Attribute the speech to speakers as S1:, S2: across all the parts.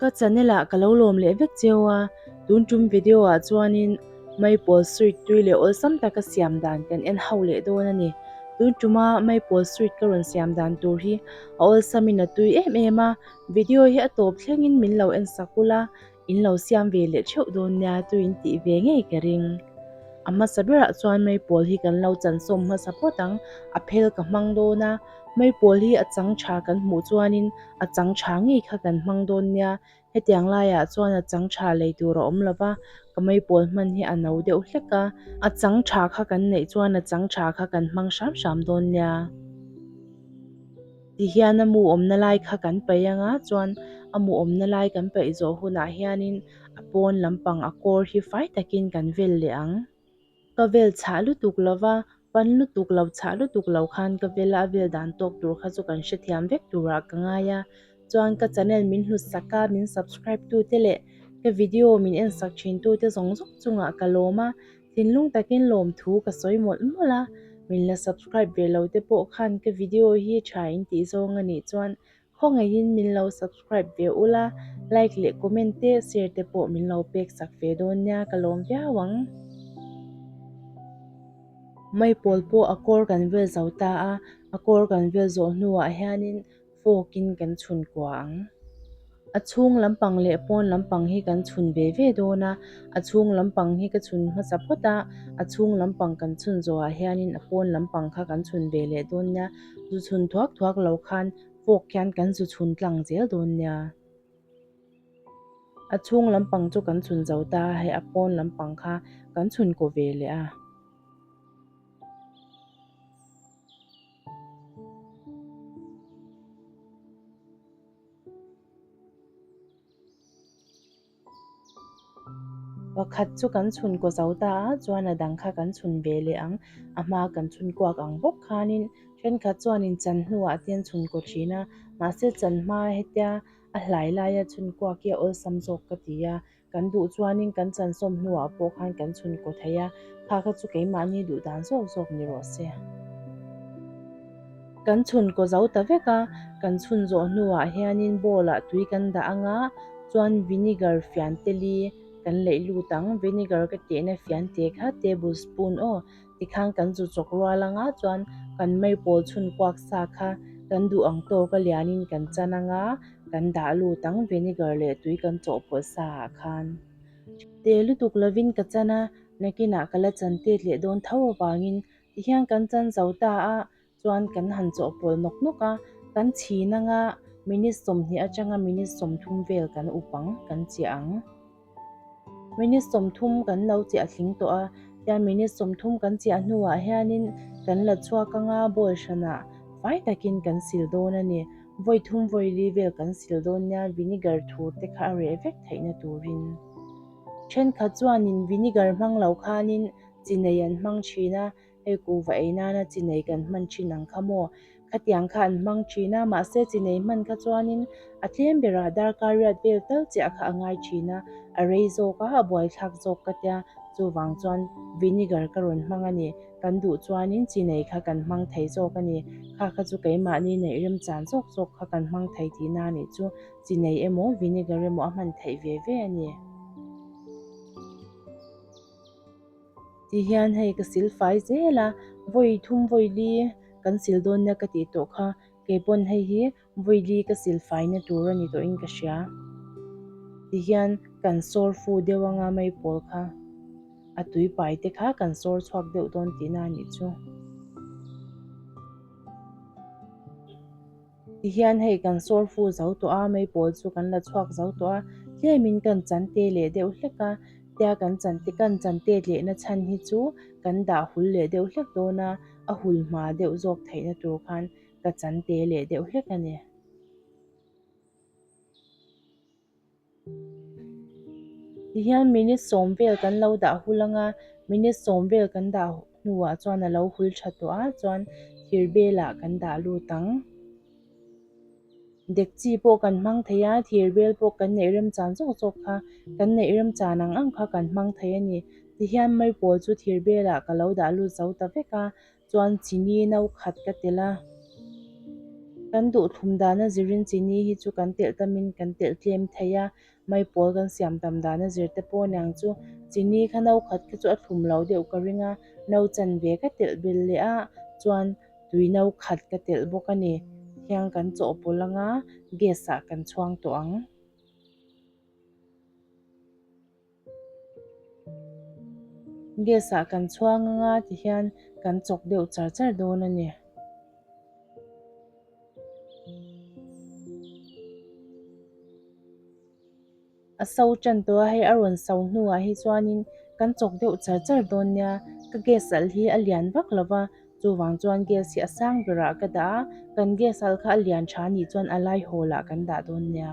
S1: Ka channel ah ka lo lawm leh vek cheu a, tun tum video ah chuanin Maple Street tui leh awlsam taka siam dan kan en hauh leh dawn a ni. Tun tuma Maple Street ka rawn siam dan tur hi a awlsamin a tui em em a. Video hi a tawp thlengin min lo en sak ul a, in lo siam ve leh theuh dawn nia chu in tih ve ngei ka ring. A hmasa berah chuan mei pawl hi kan lo chansawm hmasa phawt ang, a phel ka hmang dawn a, mei pawl hi a chang tha kan hmuh chuanin a chang tha ngei kha kan hmang dawn nia, hetiang laiah chuan a chang tha lei tur a awm lova, ka mei pawl hman hi a no deuh hlek a, a chang tha kha kan neih chuan a chang tha kha kan hmang hram hram dawn nia. Tihian a mu awmna lai kha kan paih ang a, chuan a mu awmna lai kan paih zawh hunah hianin a pawn lampang a kawr hi fai takin kan vel leh ang. Ka vel chhah lutuk lo va, pan lutuk lo chhah lutuk lo khan ka vel a, a vel dan tawk tur kha chu kan hrethiam vek turah ka ngai a, chuan ka channel min hlusak a, min subscribe tute leh ka video min en sak thin tute zawng zawng chungah ka lawm a, Thinlung takin lawmthu ka sawi mawlh mawlh a, min la subscribe ve lo te pawh khan ka video hi tha in tih zawng a nih chuan khawngaihin min lo subscribe ve ula, like leh comment te share te pawh min lo pek sak ve dawn nia ka lawm viau ang. Mai pawl pawh a kawr kan vel zo ta a, a kawr kan vel zawh hnuah hianin fawkin kan chhun kuah ang. A chhung lampang leh pawn lampang hi kan chhun ve ve dawn a, a chhung lampang hi ka chhun hmasa phawt a, a chhung lampang kan chhun zawhah hianin a pawn lampang kha kan chhun ve leh dawn nia, zu chhun thuak thuak lo khan fawk hian kan zu chhun tlang zel dawn nia. A chhung lampang chu kan chhun zo ta a, hei a pawn lampang kha kan chhun kaw ve leh a. Pakhat chu kan chhun kaw zo ta a, chuan a dang kha kan chhun ve leh ang. A hma kan chhun kuak ang bawk khanin thenkhat chuanin chan hnuah te an chhun kaw thin a, mahse chan hma hetia a hlai laia chhun kuak hi a awlsam zawk ka ti a. Kan duh chuanin kan chansawm hnuah pawh khan kan chhunkaw theih a, kha kha chu keimahni duh dan zawk zawk ni rawh se. Kan chhunkaw zo ta vek a, kan chhun zawh hnuah hianin bowl ah tui kan dah a nga chuan vinegar fian tel i kan leih lut ang, vinegar ka tehna fian te kha tablespoon aw. Tikhan kan zu chawk rual anga chuan kan mai pawl chhun kuak sa kha kan duh ang tawk a lianin kan chan anga kan dah lut ang vinegar leh tui kan chawh pawlh sa ah khan. Te lutuk lovin ka chan a, nakinah ka la chan tet leh dawn tho avangin tihian kan chan zo ta a, Chuan kan han chawh pawl nawk nawk a, kan chhin anga minute sawmhnih atanga minute sawmthum vel kan up ang, kan chiah ang. Minute sawmthum kan lo chiah tling tawh a, chuan minute sawmthum kan chiah hnuah hianin kan la chhuak anga ball hrana fai takin kan sil dawn a ni. Vawi thum vawi li vel kan sil dawn nia, vinegar thur te kha a reh vek theihna turin. Thenkhat chuanin vinegar hmang lo khanin chi nei an hmang thin a. hei kuhva ei nana chi nei kan hman thin ang kha maw? Khatiang kha an hmang thin a, mahse chi nei hman kha chuanin a tlem berah darkariat vel tal chiah kha a ngai thin a, a rei zawk a, a buaithlak zawk ka tia, chuvang chuan vinegar ka rawn hmang a ni, kan duh chuanin chi nei kha kan hmang thei zawk a ni, kha kha chu keimahni neih rem chan zawk zawk kha kan hmang thei tih na nih chu chi nei emaw vinegar emaw a hman theih ve ve a ni. Ti hian hei ka sil fai zel a, vawi thum vawi li kan sil dawn nia ka tih tawh kha, kei pawn hei hi vawi li ka sil fai na tur a ni tawh in ka hria. Ti hian kan sawr fu deuh ang a mei pawl kha, a tui pai te kha kan sawr chhuak deuh dawn tihna a nih chu. Tihian hei kan sawrfu zo tawh a, mei pawl chu kan la chhuak zo tawh a, tlêmin kan chan tê leh deuh hlek a, tia kan chan tê, kan chan têt lehna chhan hi chu kan dah hul leh deuh hlek dawn a, a hul hma deuh zawk theihna tur khan ka chan tê leh deuh hlek a ni. Tihian minute sawm vel kan lo dah hul ang a, minute sawm vel kan dah hnuah chuan a lo hul tha tawh a, chuan thir belah kan dah lut ang. Dekchi pawh kan hmang thei a, thir bel pawh kan neih rem chan zawk zawk kha, kan neih rem chan ang ang kha kan hmang thei a ni. Tihian mai pawl chu thir belah ka lo dah lut zo ta vek a. Chuan chini no khat ka telh a, kan duhthlum dana zirin chini hi chu kan telh tamin kan telh tlem thei a, mai pawl kan siam tam dana zir te pawh niang chu chini kha no khat kha chu a thlum lo deuh ka ring a, no chan ve ka telh bel leh a chuan tui no khat ka telh bawk a ni, thiang kan chaw pawlh anga gas ah kan chhuang tawh ang. Gas-a kan chhuang ang a ti hian kan chawk deuh char char dawn a ni. A so ṭan tawh a, hei a rawn so hnuah hi chuanin kan chawk deuh char char dawn nia, ka gas alh hi a lian vak lo va, chuvang chuan gas hi a sang berah ka dah a, kan gas alh kha a lian ṭha anih chuan a laihaw lah kan dah dawn nia.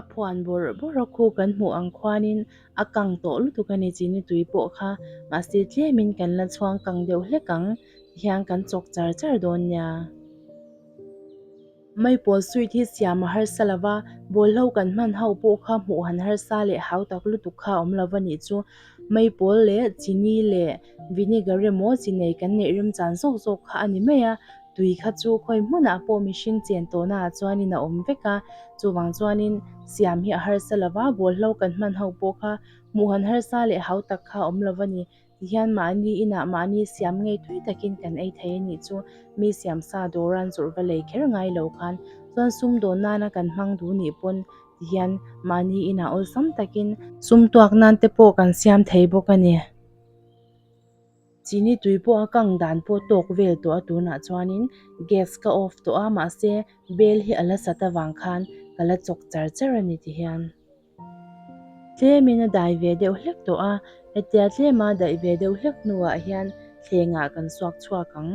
S1: A phuan bawrh bawrh a khu kan hmuh ang khuanin a kang tawh lutuk a ni chini tui pawh kha mahse tlem kan la chhuang kang deuh hlek ang tihian kan chawk char char dawn nia. Mai pawl sweet hi siam a harsa lo va, bawlhlo kan hman ho pawh kha hmuh han harsa leh hau tak lutuk kha awm lo va nih chu. Mai pawl leh chini leh vinegar emaw chi nei kan neih rem chan zawk zawk kha a ni mai a, tui kha chu khawi hmunah pawh mihring chen tawhna ah chuanin a awm vek a, chuvang chuanin siam hi a harsa lo va, bawlhlo kan hman ho pawh kha hmuh han harsa leh hau tak kha awm lo va ni. Tihian mahni inah mahni siam ngei tui takin kan ei thei a nih chu, mi siam sa dawran zawrh va lei kher ngai lo khan, chuan sum dawn nana kan hmang duh nih pawn tihian mahni inah awlsam takin, sum tuak nan te pawh kan siam thei bawk a ni, chini tui pawh a kang dan pawh tawk vel tawh a tunah chuanin gas ka off tawh a, mahse bel hi a la sat avang khan ka la chawk char char a ni tihian. Tlemin a dai ve deuh hlek tawh a, hetia tlema daih ve deuh hlek hnuah hian thlengah kan suak chhuak ang.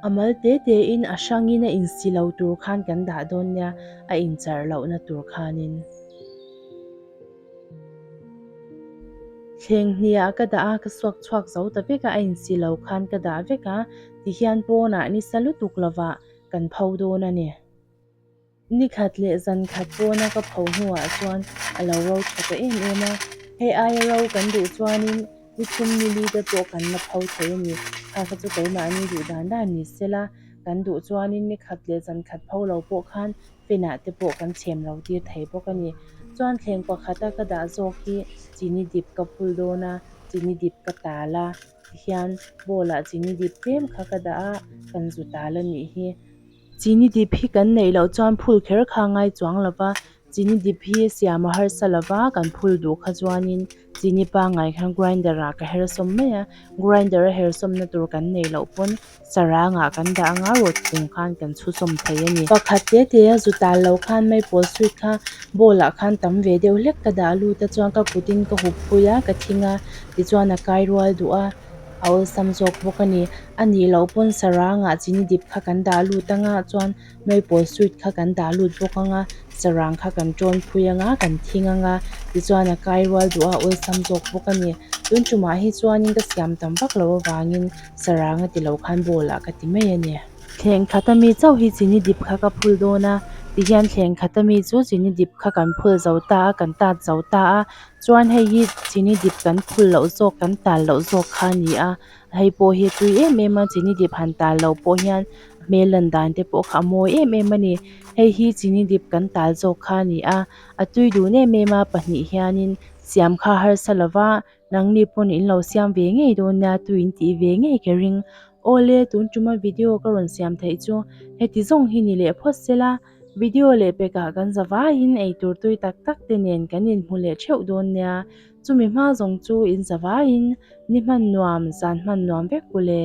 S1: A mal te tein a hrangin a insi lo tur khan kan dah dawn nia, a inchar lohna tur khanin. Thleng hniah ka dah a, ka suak chhuak zo ta vek a, a insi lo khan ka dah vek a, tihian pawnah nisa lutuk lovah kan pho dawn a ni. Ni khat leh zan khat pawna ka pho hnuah chuan a lo ro tha ta em em a. Hei aia ro kan duh chuanin ni chhum ni li te pawh kan la pho thei a ni. Kha kha chu keimahni duh dan dan ni se la, kan duh chuanin ni khat leh zan khat pho lo pawh khan fenah te pawh kan chhem lo tir thei bawk a ni. Chuan thleng pakhata ka dah zawk hi chini dip ka phul dawn a, chini dip ka tal a tihian, bawlah chini dip tlem kha ka dah a kan zu tal a nih hi. Chini dip hi kan neih loh chuan phul kher kha a ngai chuang lo va, chini dip hi siam a harsa lo va, kan phul duh kha chuanin chini pangngai khan grinder ah ka her sawm mai a, grinder a her sawmna tur kan neih loh pawn sarang ah kan dah anga ruat chung khan kan chhu sawm thei a ni. Pakhat te te a zu tal lo khan maple sweet kha bowl ah khan tam ve deuh hlek ka dah lut a chuan ka kut in ka hup pui a, ka thing a tichuan a kai rual duh a. a awlsam zawk bawk a ni. A nih loh pawn sarang ah chini dip kha kan dah lut ang a chuan nawipawh sweet kha kan dah lut bawk ang a, sarang kha kan tawn phui ang a, kan thing ang a, tichuan a kai rual duh a awlsam zawk bawk a ni. Tun tumah hi chuanin ka siam tam vak loh avangin sarang a ti loh khan ball ah ka ti mai a ni. Thleng khat a mi chauh hi chini dip kha ka phul dawn a, tihian thleng khat a mi chu chini dip kha kan phul zo ta a, kan tat zo ta a, chuan hei hi chini dip kan phulh loh zawk kan tal loh zawk kha a ni a hei pawh hi a tui em em a chini dip han tal loh pawh hian hmel lan dan te pawh kha a mawi em em a ni hei hi chini dip kan tal zawk kha a ni a a tui dun em em a pahnih hianin siam kha harsa lova nangni pawn in lo siam ve ngei dawn nia tui in tih ve ngei ka ring awle tunṭum a video ka rawn siam theih chu heti zawng hi ni leh phawt sela. Video leh pekah kan zavaiin eitur tui tak tak te nen kan inhmu leh theuh dawn nia, chumi hma zawng chu in zavaiin ni hman nuam, zan hman nuam vek pu le.